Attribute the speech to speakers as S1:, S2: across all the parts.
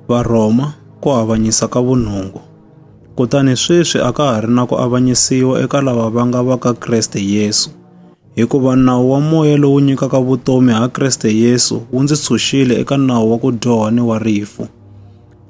S1: Varhoma ku avanyisa ka vunungu. Kutani sweswi a ka ha ri na ku avanyisiwa eka lava va nga va ka Kreste Yesu, hikuva nawu wa moya lowu nyikaka vutomi ha Kreste Yesu wu ndzi tshunxile eka nawu wa ku dyoha ni wa rifu.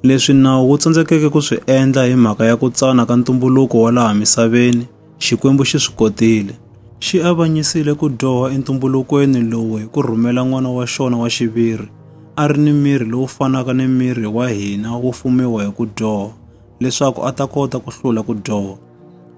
S1: Leswi nawu wu tsandzekeke ku swi endla hi mhaka ya ku tsana ka ntumbuluko wa laha misaveni, Xikwembu xi swi kotile. Xi avanyisile ku dyoha entumbulukweni lowu hi ku rhumela n'wana wa xona wa xiviri, a ri ni miri lowu fanaka ni miri wa hina wo fumiwa hi ku dyoha, leswaku a ta kota ku hlula ku dyoha.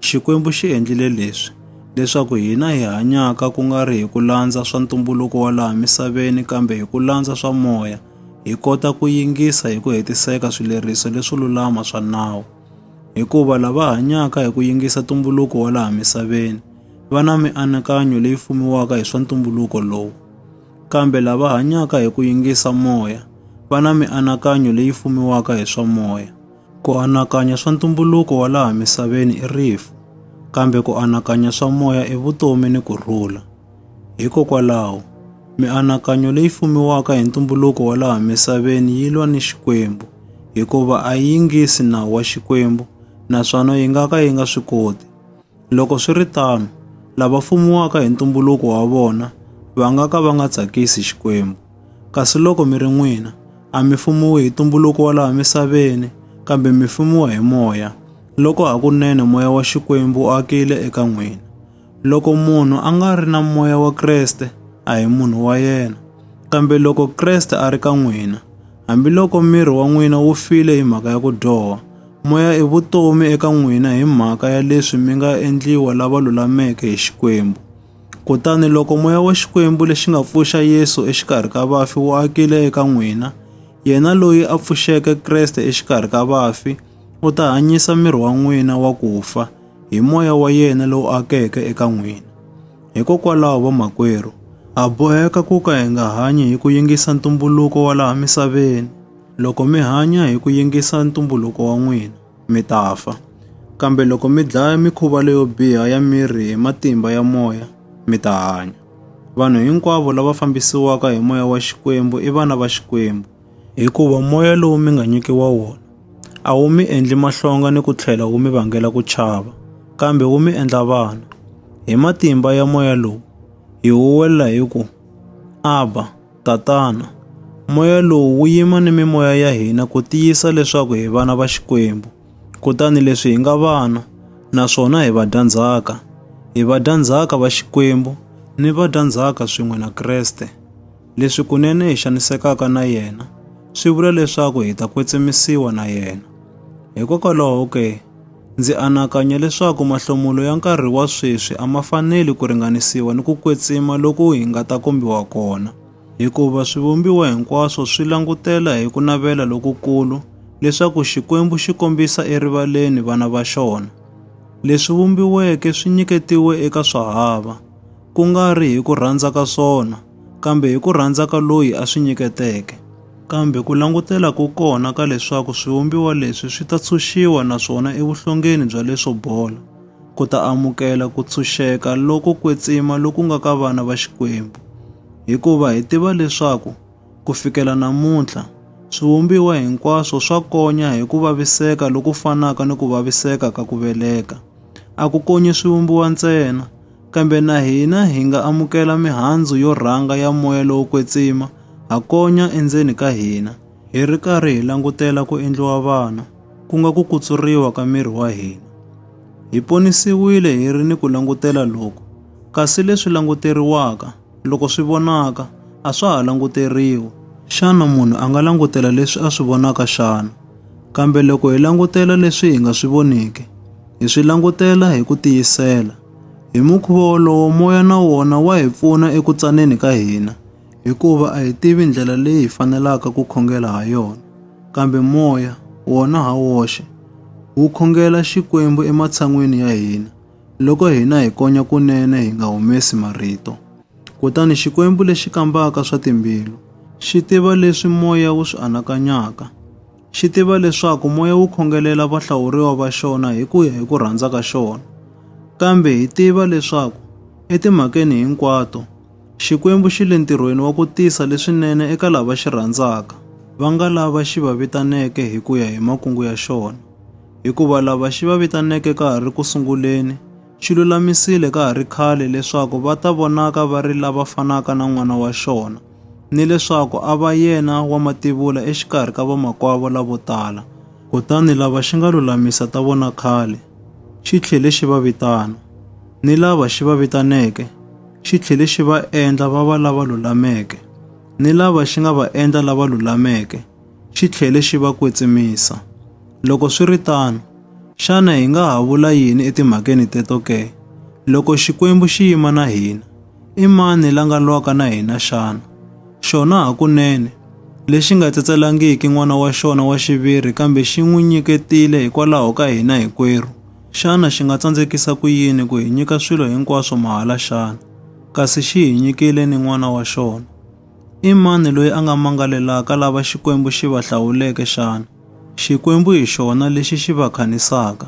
S1: Xikwembu xi endlile leswi, leswaku hina hi hanyaka ku nga ri hi ku landza swa ntumbuluko wa laha misaveni kambe hi ku landza swa moya, hi kota ku yingisa hi ku hetiseka swileriso leswo lulama swa nawu. Hikuva lava hanyaka hi ku yingisa ntumbuluko wa laha misaveni va na mianakanyo leyi fumiwaka hi swa ntumbuluko lowu, kambe lava hanyaka hi ku yingisa moya va na mianakanyo leyi fumiwaka hi swa moya. Ku anakanya swa ntumbuluko wa laha misaveni i rifu, kambe ku anakanya swa moya i vutomi ni ku rhula. Hikokwalaho, mianakanyo leyi fumiwaka hi ntumbuluko wa laha misaveni yi lwa ni Xikwembu, hikuva a yi yingisi nawu wa Xikwembu naswona yi nga ka yi nga swi koti. Loko swi ri tano, lava fumiwaka hi ntumbuluko wa vona va nga ka va nga tsakisi Xikwembu. Kasi loko mi ri n'wina, a mi fumiwi hi ntumbuluko wa laha misaveni, kambe mi fumiwa hi Moya, loko hakunene Moya wa Xikwembu wu akile eka n'wina. Loko munhu a nga ri na moya wa Kreste, a hi munhu wa yena. Kambe loko Kreste a ri ka n'wina, hambiloko miri wa n'wina wu file hi mhaka ya ku dyoha, moya i vutomi eka n'wina hi mhaka ya leswi mi nga endliwa lava lulameke hi Xikwembu. Kutani loko moya wa Xikwembu lexi nga pfuxa Yesu exikarhi ka vafi wu akile eka n'wina, yena loyi a pfuxeke Kreste exikarhi ka vafi u ta hanyisa miri wa n'wina wa ku fa hi moya wa yena lowu akeke eka n'wina. Hikokwalaho vamakwerhu, ha boheka ku ka hi nga hanyi hi ku yingisa ntumbuluko wa laha misaveni. Loko mi hanya hi ku yingisa ntumbuluko wa n'wina, mi ta fa. Kambe loko mi dlaya mikhuva leyo biha ya miri hi matimba ya moya, mi ta hanya. Vanhu hinkwavo lava fambisiwaka hi moya wa Xikwembu i vana va Xikwembu. Hikuva moya lowu mi nga nyikiwa wona a wu mi endli mahlonga ni ku tlhela wu mi vangela ku chava, kambe wu mi endla vana. Hi matimba ya moya lowu hi huwelela hi ku, Abba, Tatana. Moya lowu wu yima ni mimoya ya hina ku tiyisa leswaku hi vana va Xikwembu. Kutani leswi hi nga vana, naswona hi vadyandzhaka, hi vadyandzhaka va Xikwembu ni vadyandzhaka swin'we na Kreste. Leswi kunene hi xanisekaka na yena swi vula leswaku hi ta kwetsimisiwa na yena. Hikokwalaho ke, ndzi anakanya leswaku mahlomulo ya nkarhi wa sweswi a ma faneli ku ringanisiwa ni ku kwetsima loku hi nga ta kombiwa kona, hikuva swivumbiwa hinkwaswo swi langutela hi ku navela lokukulu leswaku Xikwembu xi kombisa erivaleni vana va xona. Leswi vumbiweke swi nyiketiwe eka swahava, ku nga ri hi ku rhandza ka swona, kambe hi ku rhandza ka loyi a swi nyiketeke. Kambe ku langutela ko kona ka leswaku swivumbiwa leswi swi ta tshunxiwa naswona evuhlongeni bya leswo bola, ku ta amukela ku tshunxeka loko kwetsima loku nga ka vana va Xikwembu. Hikuva hi tiva leswaku, ku fikela namuntlha, swivumbiwa hinkwaswo swa konya hi ku vaviseka loku fanaka ni ku vaviseka ka ku veleka. A ku konyi swivumbiwa ntsena, Kambe na hina hi nga amukela mihandzu yo rhanga ya moya lowo kwetsima ha konya endzeni ka hina, hi ri karhi hi langutela ku endliwa vana, ku nga ku kutsuriwa ka miri wa hina. Hi ponisiwile hi ri ni ku langutela loku, kasi leswi languteriwaka, Loko swi vonaka, a swa ha languteriwi. Xana munhu a nga langutela leswi a swi vonaka xana? Kambe loko hi langutela leswi hi nga swi voniki, hi swi langutela hi ku tiyisela. Hi mukhuva wolowo moya na wona wa hi pfuna eku tsaneni ka hina, hikuva a hi tivi ndlela leyi hi fanelaka ku khongela ha yona. Kambe moya, wona ha woxe, wu khongela Xikwembu ematshan'weni ya hina. Loko hina hi konya kunene hi nga humesi marito. Kutani Xikwembu lexi kambaka swa timbilu xi tiva leswi moya wu swi anakanyaka. Xi tiva leswaku moya wu khongelela vahlawuriwa va xona hi ku ya hi ku rhandza ka xona. Kambe hi tiva leswaku etimhakeni hinkwato, Xikwembu xi le ntirhweni wa ku tisa leswinene eka lava xi rhandzaka, va nga lava xi va vitaneke hi ku ya hi makungu ya xona. Hikuva lava xi va vitaneke ka ha ri ku sunguleni, xi lulamisile ka ha ri khale leswaku va ta vonaka va ri lava fanaka na n'wana wa xona, ni leswaku a va yena wa mativula exikarhi ka vamakwavo lavo tala. Kutani lava xi nga lulamisa ta vona khale, xi tlhele xi va vitana, ni lava xi va vitaneke, xi tlhele xi va endla va va lava lulameke, ni lava xi nga va endla lava lulameke, xi tlhele xi va kwetsimisa. Loko swi ri tano, xana hi nga ha vula yini etimhakeni teto ke? Loko Xikwembu xi yima na hina, i mani la nga lwaka na hina xana? Xona hakunene, lexi nga tsetselangiki n'wana wa xona wa xiviri kambe xi n'wi nyiketile hikwalaho ka hina hinkwerhu, Xana xi nga tsandzekisa ku yini ku hi nyika swilo hinkwaswo mahala xana? Kasi xi hi nyikile ni n'wana wa xona. I mani loyi a nga mangalelaka lava Xikwembu xi va hlawuleke xana? Xikwembu hi xona lexi xi va khanisaka.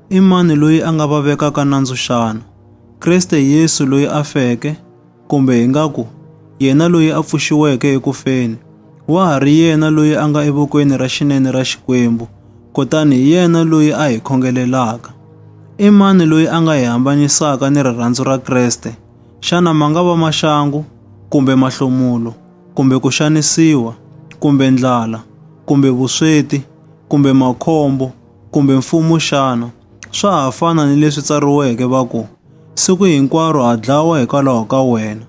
S1: I mani loyi a nga va vekaka nandzu xana? Kreste Yesu loyi a feke, Kumbe hi nga ku, yena loyi a pfuxiweke eku feni, wa ha ri yena loyi a nga evokweni ra xinene ra Xikwembu, kutani hi yena loyi a hi khongelelaka. I mani loyi a nga hi hambanyisaka ni rirhandzu ra Kreste? Xana ma nga va maxangu, kumbe mahlomulo, kumbe ku xanisiwa, kumbe ndlala, kumbe vusweti, kumbe makhombo, kumbe mfumo xana? Swa ha fana ni leswi tsariweke va ku, Siku hinkwaro ha dlawa hikwalaho ka wena,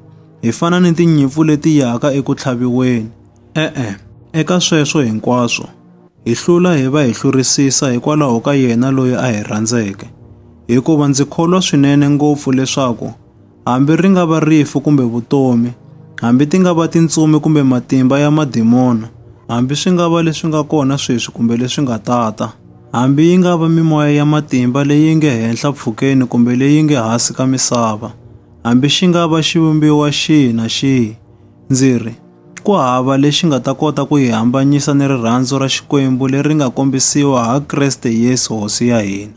S1: hi fana ni tinyimpfu leti yaka eku tlhaviweni. E-e, eka sweswo hinkwaswo, hi hlula hi va hi hlurisisa hikwalaho ka yena loyi a hi rhandzeke, hikuva ndzi kholwa swinene ngopfu leswaku hambi ri nga va rifu kumbe vutomi, hambi ti nga va tintsumi kumbe matimba ya madimona, hambi swi nga va leswi nga kona sweswi kumbe leswi nga ta ta, hambi yi nga va mimoya ya matimba leyi nge henhla pfhukeni kumbe leyi nge hasi ka misava, hambi xi nga va xivumbiwa xihi na xihi, ndzi ri, ku hava lexi nga ta kota ku yi hambanyisa ni rirhandzu ra Xikwembu leri nga kombisiwa ha Kreste Yesu Hosi ya hina.